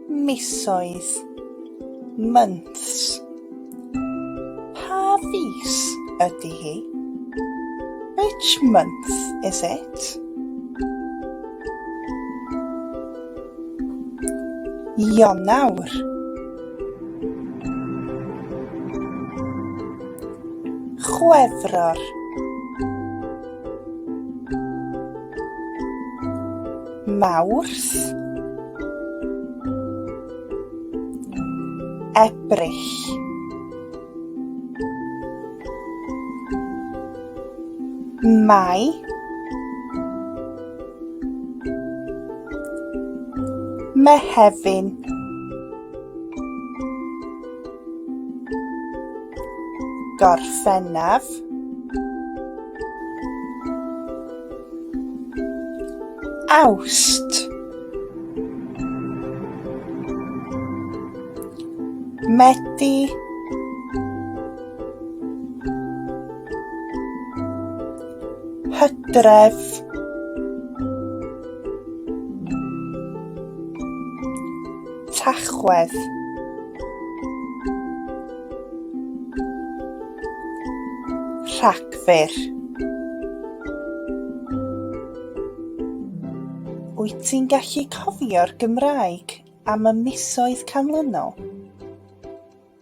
Misoedd, months. Pa fis ydy hi? Which month is it? Ionawr. Chwefror. Mawrth, Ebrill. Mai, Mehefin. Gorffennaf Awst Medi Hydref Tachwedd. Rhagfyr. Wyt ti'n gallu cofio'r Gymraeg am y misoedd canlynol?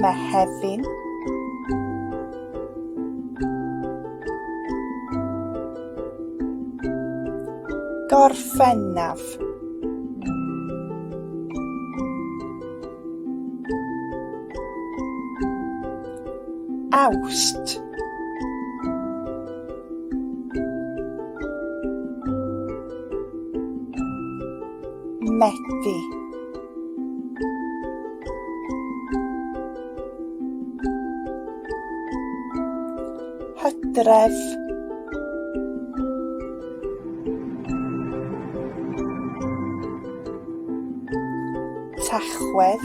Mehefin Gorffennaf Awst Medi. Hydref. Tachwedd.